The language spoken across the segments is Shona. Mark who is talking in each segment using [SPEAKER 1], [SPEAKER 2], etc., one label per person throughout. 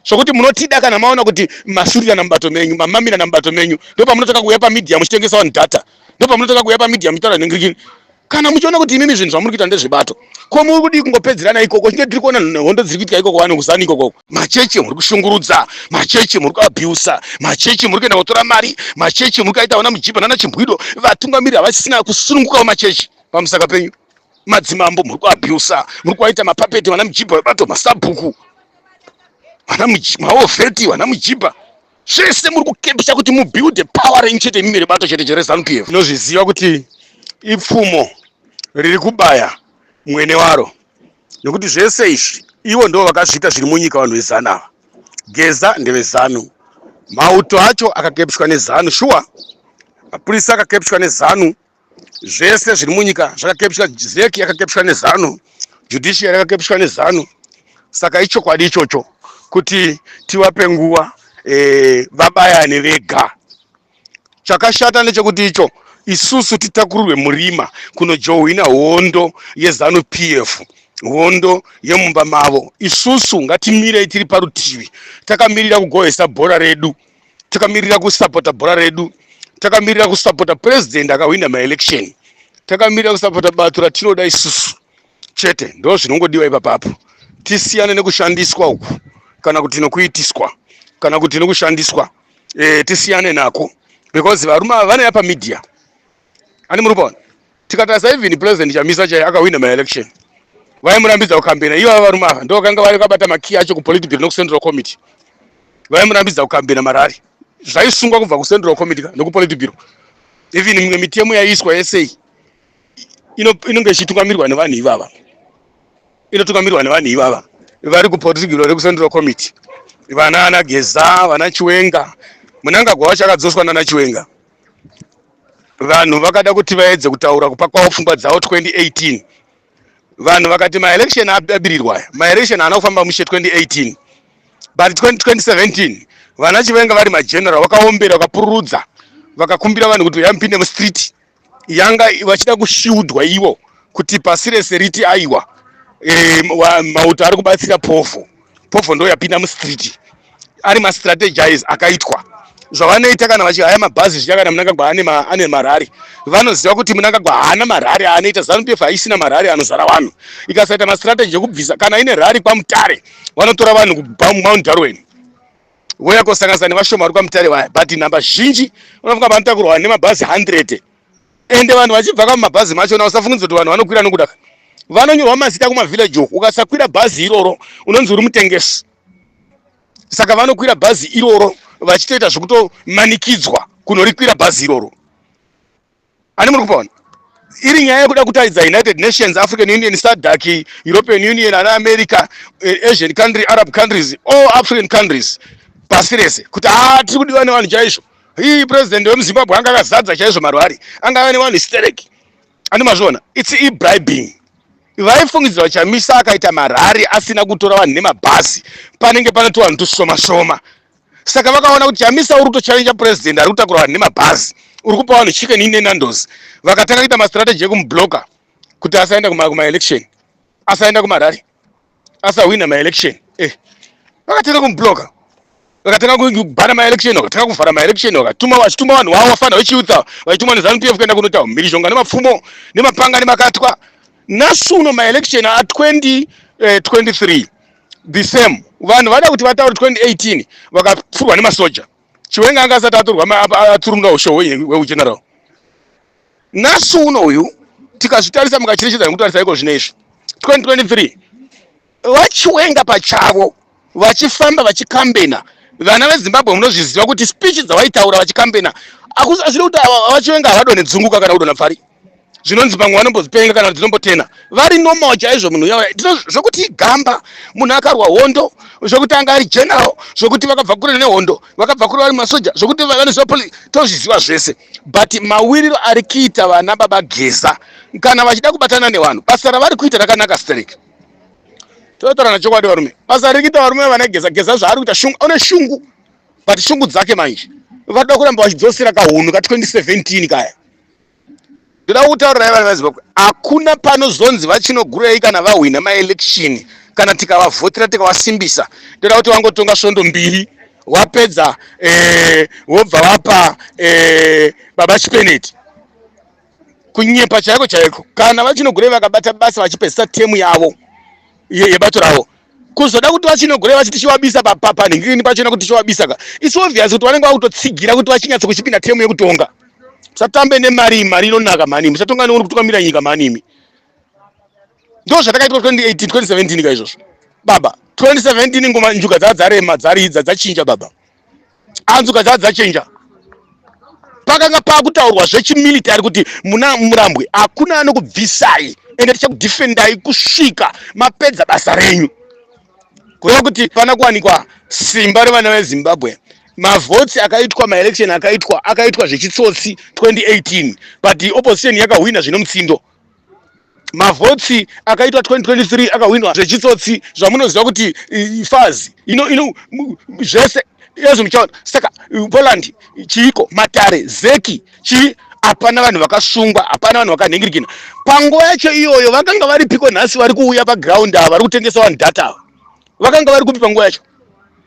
[SPEAKER 1] sokuti munotida kana maona kuti masurira namubato menyu mamamira namubato menyu ndopamunotanga kuuya pamedia muchitengesa vanhu data ndopamunotanga kuuya pamedia muchitaura nhengirikini kana muchiona kuti imimi zvinhu zvamuri kuita ndezvebato ko muri kudii kungopedzerana ikoko chinge tiri kuona hondo dziri kuitika ikoko vanhu kuzani ikoko machechi muri kushungurudza machechi muri kuabusa machechi muri kuenda kotora mari machechi muri kuaita vana mujibha nana chimbwido vatungamiri havasisina kusunungukawo machechi pamusaka penyu madzimambo muri kuabusa muri kuaita mapapeti vana mujibha vebato masabhuku vana maovheti vana mujibha zvese muri kukepisa kuti mubuilde power renyu chete imimi rebato chete cherezanup f tinozviziva kuti ipfumo riri kubaya mwene waro nekuti zvese izvi ivo ndo vakazviita zviri munyika vanhu vezanu ava geza ndevezanu mauto acho akakepiswa nezanu shuwa mapurisa akakepiswa nezanu zvese zviri munyika zvakakepishwa zeki yakakepishwa nezanu judiciary yakakepishwa nezanu saka ichokwadi ichocho kuti tivape nguva e, vabayane vega chakashata ndechekuti icho isusu titakurirwe murima kunojohwina hondo yezanu pf hondo yemumba mavo isusu ngatimirei tiri parutivi takamirira kugohesa bhora redu takamirira kusapota bhora redu takamirira kusapota president akahwina maelection takamirira kusapota bato ratinoda isusu chete ndo zvinongodiwa ipapapo tisiyane nekushandiswa uku kana kuti nokuitiswa kana kuti nokushandiswa e, tisiyane nako because varume ava vanouya pamedia ani muri kuona tikatarisa even president chamisa chaiye akahwina maelection vaimurambidza kukambena ivo varume ava ndo vakanga vari vakabata makiyi acho kupolitbiro nekucentral committee vaimurambidza kukambena marari zvaisungwa kubva kucentral committee ka nekupolitbiro even mimwe mitemo yaiiswa yesei inonge ichitungamirwa nevanhu ivava inotungamirwa nevanhu ivava vari kupolitbiro rekucentral committee vana ana geza vana chiwenga munangagwa wacho akadzoswa nana chiwenga vanhu vakada kuti vaedze kutaura kupa kwavo pfungwa dzavo 2018 vanhu vakati maelection abirirwa aya maelection haana kufamba mushe 2018 but 2017 vana chivenga vari mageneral vakaombera vakapururudza vakakumbira vanhu kuti vayamupinde mustreet yanga vachida kushiudwa ivo kuti pasi rese riti aiwa e, mauto ari kubatsira pofu pofo ndo yapinda mustreet ari mastrategize akaitwa zvavanoita kana vachihaya mabhazi zviya kana munangagwa ane, ma, ane marari vanoziva kuti munangagwa haana marari aanoita zanupf haisina marari anozara vanhu ikasaita mastrategy ekubvisa kana ine rari kwamutare vanotora vanhu kubva mumount darwen voya kosanganisa nevashoma vari kwamutare vaya but nhamba zhinji unofunga vanotakurwa nemabhazi 100 ende vanhu vachibvaka mumabhazi machona usafungidza kuti vanhu vanokwira nokuda vanonyorwa mazita kumavillage uku ukasakwira bhazi iroro unonzi uri mutengesi saka vanokwira bhazi iroro vachitoita zvekutomanikidzwa kunorikwira bhazi iroro ani muri kupaona iri nyaya yekuda kutaridza united nations african union sadak european union ana america eh, asian country arab countries all african countries pasi rese kuti haa tiri kudiwa nevanhu chaizvo Hii president wemuZimbabwe anga akazadza chaizvo marwari. Anga ane vanhu stereki. Ani mazviona? It's e bribing. Vaifungidzira kuti Chamisa akaita marari asina kutora vanhu nemabhazi. Panenge panotora vanhu tusoma soma. Saka vakaona kuti Chamisa uri kutochallenge president ari kutakura vanhu nemabhazi. Uri kupa vanhu chicken in Nando's. Vakatanga kuita mastrategy ekumublocker kuti asaenda kuma kuma election. Asaenda kumarari. asahwina maelection eh vakatanga kumubloka vakatanga kubhana maelection vakatanga kuvhara maelection vakatuma vachituma vanhu vavo vafana vechiutsa vachituma nezanu pf kuenda kunotaura mhirizhonga nemapfumo nemapanga nemakatwa nhasi uno maelection a2023 eh, the same vanhu vada kuti vataure 2018 vakapfurwa nemasoja chiwenga anga asati aturwa atsurumura ushohwe hweugeneral Nhasi uno uyu tikazvitarisa mukacherechedza nekutarisa iko zvino izvi 2023 vachiwenga pachavo vachifamba vachikambena vana vezimbabwe munozviziva kuti speech dzawaitaura vachikambena azviri kuti vachiwenga havadone dzunguka kana kudona pfari zvinonzi pamwe vanombozipenga kana dzinombotena vari normal chaizvo munhu uya zvekuti igamba munhu akarwa hondo zvekuti anga ari general zvekuti vakabva kure nehondo vakabva kure vari masoja zvekuti vanoziva tozviziva zvese but mawiriro ari kuita vana baba geza kana vachida kubatana nevanhu basa ravari kuita rakanaka sterek totorana chokwadi varume basa riri kuita varume vana geza geza zvaari kuita shungu une shungu but shungu dzake manje vada kuramba vachidzosera kahunhu ka 2017 kaya ndoda kutaurirai vana vezimbabwe hakuna panozonzi vachinogurei kana vahwina maelection kana tikavavhotera tikavasimbisa ndoda kuti vangotonga svondo mbiri wapedza eh, wobva wapa eh, baba chipeneti kunyepa chaiko chaiko kana vachinogurei vakabata basa vachipedzisa temu yavo yebato ravo kuzoda kuti vachinogoreva vachiti chivabisa panhingirini pachona kuti chivabisa ka its obvious kuti vanenge vakutotsigira kuti vachinyatsa kuchipinda temu yekutonga musatambe nemari mari inonaka mhani musatonga neuri kutungamira nyika mhani imi ndo zvatakaitwa 2018 2017 ka izvozvo baba 2017 ngoma njuga dzadzarema dzaridza dzachinja baba anzuka dzaa dzachenja pakanga pakutaurwa zvechimilitary kuti muna murambwe hakuna anokubvisai ende tichakudefendai kusvika mapedza basa renyu kureva kuti pana kuwanikwa simba revana vezimbabwe mavhotsi akaitwa maelection akaitwa akaitwa zvechitsotsi 2018 but opposition yakahwina zvine mutsindo mavhotsi akaitwa 2023 akahwinwa zvechitsotsi zvamunoziva kuti fazi ino ino zvese ezvo muchaona saka poland chiiko matare zeki chii hapana vanhu vakasungwa hapana vanhu vakanhingirikina panguva yacho iyoyo vakanga vari piko nhasi vari kuuya paground ava vari kutengesa vanhu data ava vakanga vari kupi panguva yacho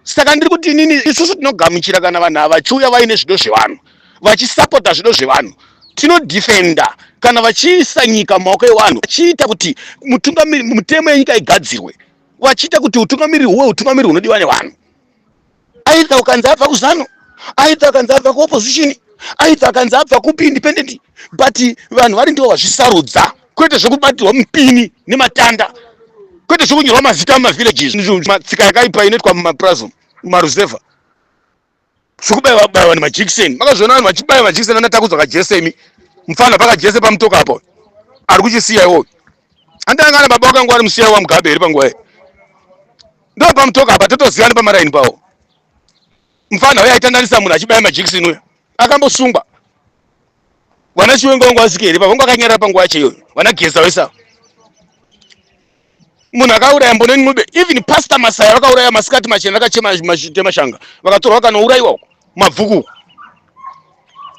[SPEAKER 1] saka ndiri kuti inini isusu tinogamuchira kana vanhu ava vachiuya vaine zvido zvevanhu vachisapota zvido zvevanhu tinodefenda kana vachiisa nyika mumaoko evanhu vachiita kuti mutungamiri mutemo yenyika igadzirwe vachiita kuti utungamiri huwe utungamiri hunodiwa nevanhu aidha ukanzi abva kuzano aidha ukanzi abva kuopposition aidha ukanzi abva kupi independent but vanhu vari ndivo vazvisarudza kwete zvekubatirwa mupini nematanda kwete zvekunyorwa mazita mumavillages tsika yakaipa inoitwa mumapurazi mumaruzevha zvekubaiwa baiwa nemajekiseni makazviona vanhu vachibaiwa majekiseni anatakudzwa kajese imi mufana pakajese pamutoka apo ari kuchisiya iwoyo andanga ana baba wakangwari musiya wa mugabe here panguva iyo ndo pamutoka apa totozivana pamaraini pawo mufana uyo aitandanisa munhu achibaya majekiseni uyo akambosungwa vana chiwenga vangu vasike here pavanga vakanyarara panguva yacho iyoyo vana geza vese avo munhu akauraya mboneni ncube even pastor masaya vakauraya masikati machena akachema temashanga vakatorwa vakanourayiwa uko mabvuku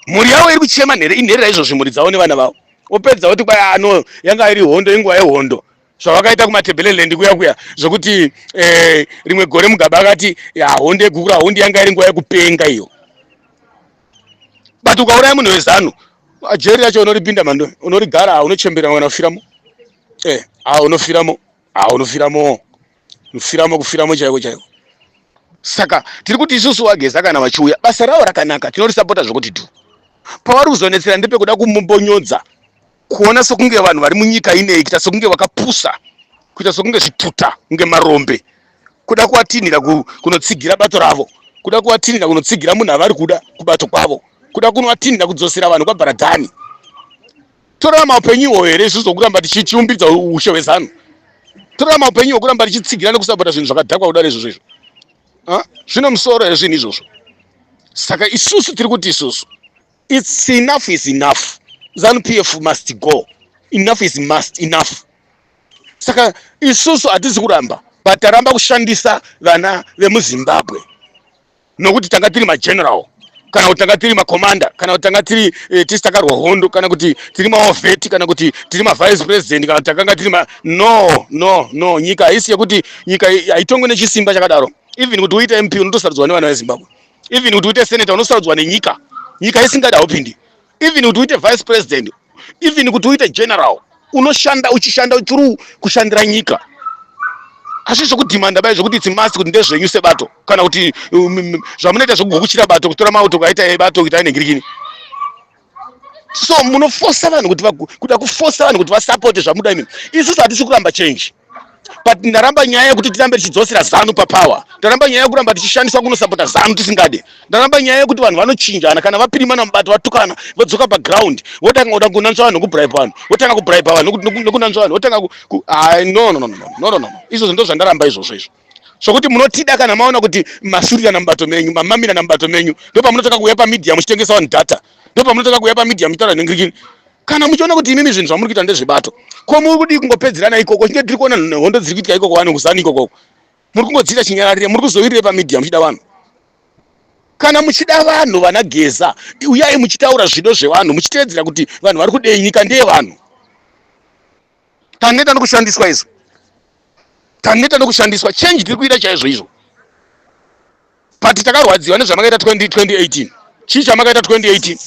[SPEAKER 1] mhuri yavo iri kuchema nhere inherera izvozvi mhuri dzavo nevana vavo opedza oti kwai ano ah, yanga iri hondo inguva yehondo zvavakaita kumatebeleland kuya kuya zvokuti eh, rimwe gore mugaba akati hondo yegukura hondo yanga iri nguva yekupenga iyo but ukauraya munhu wezanu jeri racho unoripinda mando unorigara ha unochembera kana kufiramo eh ha unofiramo ha unofiramo unofiramo kufiramo chaiko chaiko saka tiri kuti isusu wageza kana vachiuya basa ravo rakanaka tinorisapota zvekuti tu pavari kuzonetsera ndepekuda kumubonyodza kuona sokunge vanhu vari munyika inei kuita sokunge vakapusa kuita sokunge zvituta kunge marombe kuda kuvatinhira kunotsigira bato ravo kuda kuvatinhira kunotsigira munhu avari kuda kubato kwavo kuda kunovatinhira kudzosera vanhu kwabaradhani torarama upenyu ihwoyo here isu zvokuramba tichiumbidza ushe hwezanu torarama upenyu hwokuramba tichitsigira nekusapota zvinhu zvakadhakwa kudari izvozvo izvo zvino musoro here zvinhu izvozvo saka isusu tiri kuti isusu It's enough is enough. Zanu PF must go. Enough is must enough. Saka isusu hatisi kuramba but taramba kushandisa vana vemuzimbabwe nokuti tanga tiri mageneral kana kuti tanga tiri macommander kana kuti tanga tiri eh, tisi takarwa hondo kana kuti tiri maovheti kana kuti tiri mavice president kana takanga tiri ma no no no nyika haisi yekuti nyika haitongwe nechisimba chakadaro even kuti uite mp unotosarudzwa nevana vezimbabwe even kuti uite senator unosaudzwa nenyika nyika isingada haupindi even kuti uite vice president even kuti uite general unoshanda uchishanda uchiri kushandira nyika asi zvekudhimanda bai zvekuti it's must kuti ndezvenyu sebato kana kuti um, um, zvamunoita zvekugukuchira bato kutora mauto kaita bato kuita inengirikini so munofosa vanhu kuti kuda kufosa vanhu kuti vasapote zvamuda imini isusu hatisi kuramba change but ndaramba nyaya yekuti tirambe tichidzosera zanu papower ndaramba nyaya yekuramba tichishandiswa kunosapota zanu tisingade ndaramba nyaya yekuti vanhu vanochinjana kana vapirimana mubato vatukana vodzoka paground votanga kuda kunanzva vanhu nekubribe vanhu votanga kubribe vanhu nekunanzva vanhu votanga no no no no no no no izvozvo ndo zvandaramba izvozvo izvo sokuti munotida kana maona kuti masurira namubato menyu mamamira namubato menyu ndopamunotanga kuuya pamedia muchitengesa vanhu data ndopamunotanga kuuya pamedia muchitaura nhingirikini kana muchiona kuti imimi zvinhu zvamuri kuita ndezvebato ko muri kudii kungopedzerana ikoko chinge tiri kuona hondo dziri kuitika ikoko vanhu kuzani ikokoko muri kungodziita chinyararire muri kuzovirire pamedia muchida vanhu kana muchida vanhu vana geza uyai muchitaura zvido zvevanhu muchiteedzera kuti vanhu vari kudei nyika ndeyevanhu taneta nokushandiswa izvo taneta nokushandiswa change tiri kuita chaizvo izvo but takarwadziwa nezvamakaita 2018 chii chamakaita 2018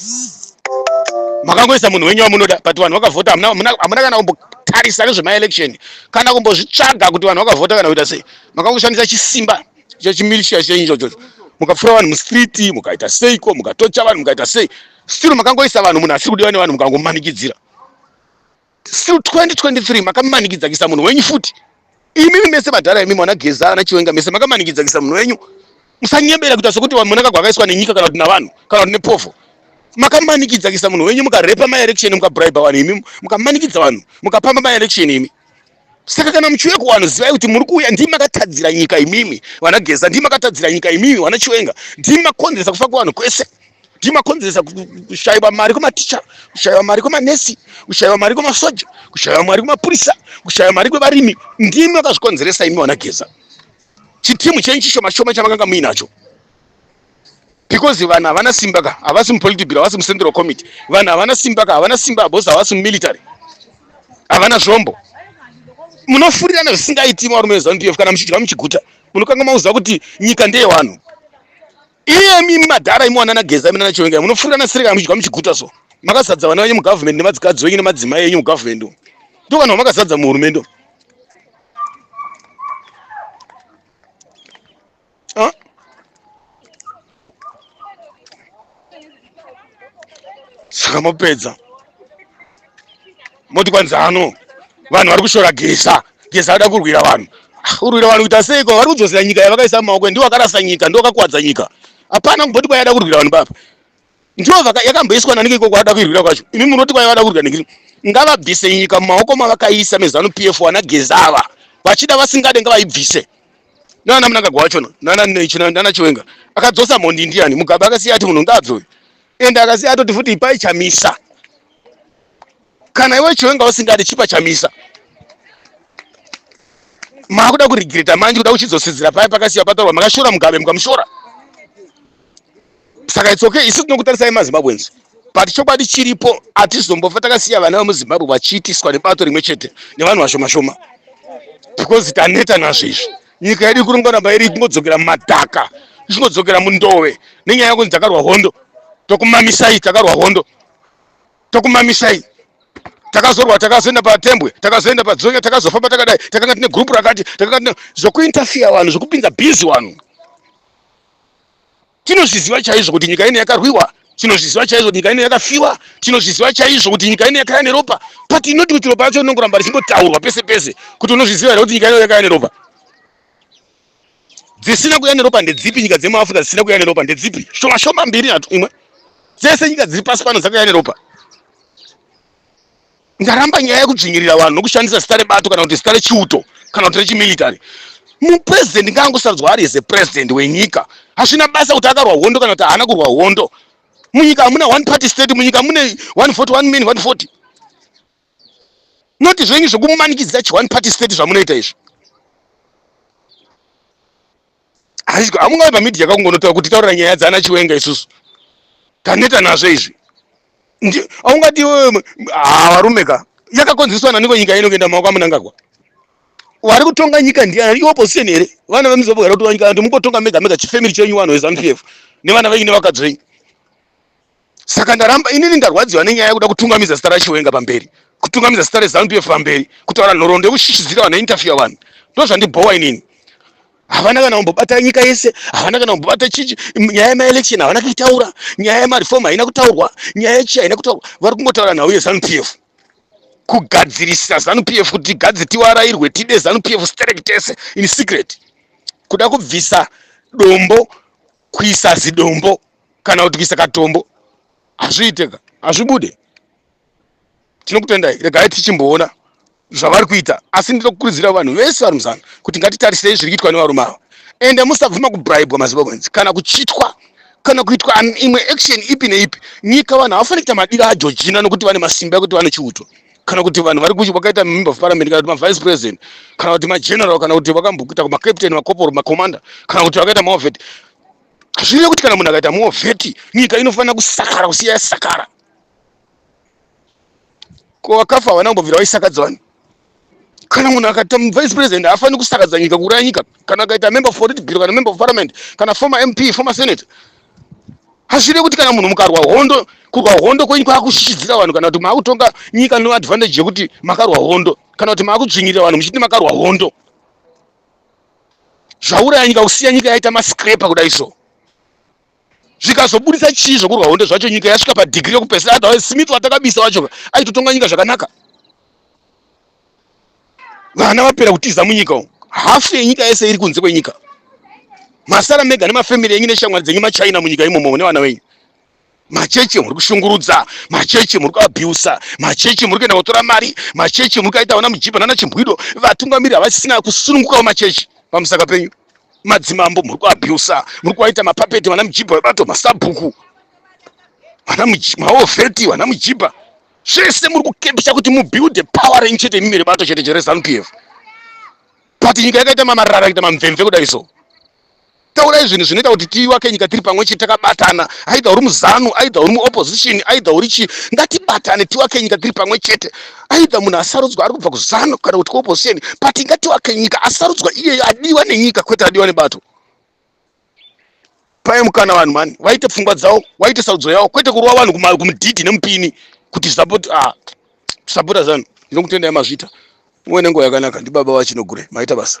[SPEAKER 1] makangoisa munhu wenyu wamunoda but vanhu vakavhota hamuna kana kumbotarisa nezvemaelection kana kumbozvitsvaga kuti vanhu vakavhota kana kuita sei makangoshandisa chisimba chechimilishia chenyu chochocho mukapfura vanhu mustreet mukaita seiko mukatocha vanhu mukaita sei still makangoisa vanhu munhu asiri kudiwa nevanhu mukangomanikidzira still 2023 makamanikidza kisa munhu wenyu futi imimi mese madhara imimi wana geza ana chiwenga mese makamanikidza kisa munhu wenyu musanyebera kuita sokuti vamonaka gwakaiswa nenyika kana kuti navanhu kana kuti nepovo makamanikidza kisa munhu wenyu mukarepa maelection mukabribe vanhu imi mukamanikidza vanhu mukapamba maelection imi saka kana muchiuya kuwanhu zivai kuti muri kuuya ndii makatadzira nyika imimi vana geza ndii makatadzira nyika imimi vana chiwenga ndii makonzeresa kufa kuvanhu kwese ndiyo makonzeresa kushaiwa mari kwematicha kushaiwa mari kwemanesi kushaiwa mari kwemasoja kushaiwa mari kwemapurisa kushaiwa mari kwevarimi ndimi makazvikonzeresa imi vanageza chitimu chenyu chishoma shoma chamakanga muinacho because vanhu havana simba ka havasi mupolitibiro havasi mucentral committee vanhu havana simba ka havana simba bhosi havasi mumilitary havana zvombo munofurirana zvisingaiti marume vezanup kana muchidya muchiguta munokanga mauziva kuti nyika ndeyewanhu Iyemi imi madhara imi wanana Geza imi nana Chiwenga munofurira na Sirika muchidya muchiguta so makazadza vana venyu mu government nemadzikadzi wenyu nemadzimai enyu mu government umu. Ndo vanhu vamakazadza mu hurumende umu. Huh? Saka mapedza. moti kwanzi ano vanhu vari kushora geza geza ada kurwira vanhu ah, urwira vanhu kuita seiko vari kudzosera nyika yavakaisa mumaoko ndiwo akarasa nyika ndiwo akakuwadza nyika hapana kumboti kwai ada kurwira vanhu baba ndiwo yakamboiswa nanike ikoko ada kuirwira kwacho imi munoti kwai vada kurwira nekiri ngavabvise nyika mumaoko mavakaisa mezanu p f wana geza ava vachida vasingade ngavaibvise nana munangagwa wacho nana chiwenga akadzosa mhondi ndiyani mugabe akasiya ati munhu ngaabve uyu ende akasiya atoti futi ipai chamisa kana iwe chiwenga usingadi chipa chamisa makuda kurigirita manje kuda kuchidzosidzira paye pakasiya patorwa makashora mugabe mukamushora saka it's okay isu tinokutarisai mazimbabwenzi but chokwadi chiripo hatizombofa takasiya vana vemuzimbabwe vachiitiswa nebato rimwe chete nevanhu vashoma shoma because taneta nazvo izvi nyika yedu ikuringonamba iri ichingodzokera mumadhaka ichingodzokera mundove nenyaya yekunzi takarwa hondo tokumamisai takarwa hondo tokumamisai takazorwa takazoenda patembwe takazoenda padzonya takazofamba takadai takanga tine gurupu rakati takanga tine zvokuinterfeya vanhu zvokupinza bhizi vanhu tinozviziva chaizvo kuti nyika ino yakarwiwa tinozviziva chaizvo kuti nyika ino yakafiwa tinozviziva chaizvo kuti nyika ino yakaya neropa but inoti kuti ropa yacho rinongoramba richingotaurwa pese pese kuti unozviziva here kuti nyika ino yakaya neropa dzisina kuya neropa ndedzipi nyika dzemuafrica dzisina kuya neropa ndedzipi shoma shoma mbiri nhatu imwe dzese nyika dziri pasi pano dzakuya neropa ndaramba nyaya yekudzvinyirira vanhu nokushandisa zita rebato kana kuti zita rechiuto kana kuti rechimilitary mupresident ngaangosarudzwa ari as a president wenyika hazvina basa kuti akarwa hondo kana kuti haana kurwa hondo munyika hamuna one party state munyika mune 141 min 140 not zvenyu zvekumanikidzira chione party state zvamunoita izvi hazviko hamungavi pamedia kakungonotaura kuti taura nyaya dzana chiwenga isusu taneta nazvo izvi aungati varume ka yakakonzeswa nani ko nyika inokuenda maoko amunangagwa wari kutonga nyika ndiani iopposition here vana vemuzimbabwe vari kutonga nyika kuti mukotonga mega mega chifamily chenyu vanhu vezanupf nevana venyu nevakadzi venyu saka ndaramba inini ndarwadziwa nenyaya yekuda kutungamidza zita rachiwenga pamberi kutungamidza zita rezanu pf pamberi kutaura nhoroondo yekushishidzira vanhu einterfewa vanhu ndo zvandibhowa inini havana kana kumbobata nyika yese havana kana kumbobata chichi nyaya yemaelection havana kuitaura nyaya yemareform haina kutaurwa nyaya yechi haina kutaurwa vari kungotaura nhau yezanu pf kugadzirisa zanu pf kuti gadzi tiwarairwe tide zanu pf sterek tese in secret kuda kubvisa dombo kuisa zidombo kana kuti kuisa katombo hazviite ka hazvibude tinokutendai regai tichimboona zvavari kuita asi ndiri kukurudzira vanhu vese vari muzana kuti ngatitarisirei zviri kuitwa nevarume ava ende musabvuma kubribwa mazimbabweans kana kuchitwa kana kuitwa imwe action ipi neipi nyika vanhu havafaniri kuita madiro ageorgina nokuti vane masimba ekuti vane chiuto kana kuti vanhu vari kuchi vakaita member of parliament kana kuti mavice president kana kuti mageneral kana kuti vakambokuita kumacaptain macopor macommander kana kuti vakaita maovet zvireve kuti kana munhu akaita moveti nyika inofanira kusakara kusiya yasakara ko vakafa havana kumbobvira vaisakadza vanhu kana munhu akaita vice president haafaniri kusakadza nyika kuuraya nyika kana akaita member of political kana member of parliament kana former mp former senate hazvide kuti kana munhu mukarwa hondo kurwa hondo kwenyu kwakushishidzira vanhu kana kuti maakutonga nyika no advantage yekuti makarwa hondo kana kuti maakudzvinyirira vanhu muchiti makarwa hondo zvauraya nyika kusiya nyika yaita mascraper kudai so zvikazobudisa chii zvokurwa hondo zvacho nyika yasvika padhigiri yekupesera otherwise smith watakabisa wacho aitotonga nyika zvakanaka vana vapera kutiza munyika umu hafu yenyika yese iri kunze kwenyika masara mega nemafamily enyu neshamwari dzenyu machina munyika imomo une vana wenyu machechi muri kushungurudza machechi muri kuabusa machechi muri kuenda kotora mari machechi muri kuaita vana mujipa nana chimbwido vatungamiri havasisina kusunungukawo machechi pamusaka penyu madzimambo muri kuabusa muri kuaita mapapeti vana mujipa vebato masabhuku vana maofeti vana mujipa zvese muri kukepisa kuti mubuilde power renyu chete imimi rebato chete chere zanupf but nyika yakaita mamarara akaita mamvemve kudai so taurai zvinhu zvinoita kuti tiwake nyika tiri pamwe chete takabatana aidha uri muzanu aidha uri muopposition aidha uri chii ngatibatane tiwake nyika tiri pamwe chete aidha munhu asarudzwa ari kubva kuzanu kana kuti kuopposition but ngatiwake nyika asarudzwa iyeyo adiwa nenyika kwete adiwa nebato paye mukana vanhu mani vaite pfungwa dzavo vaite sarudzo yavo kwete kurova vanhu kumudhidhi nemupini kuti support ah, support zanu ndinokutendai mazvita muve nenguva yakanaka ndibaba vachinogure maita basa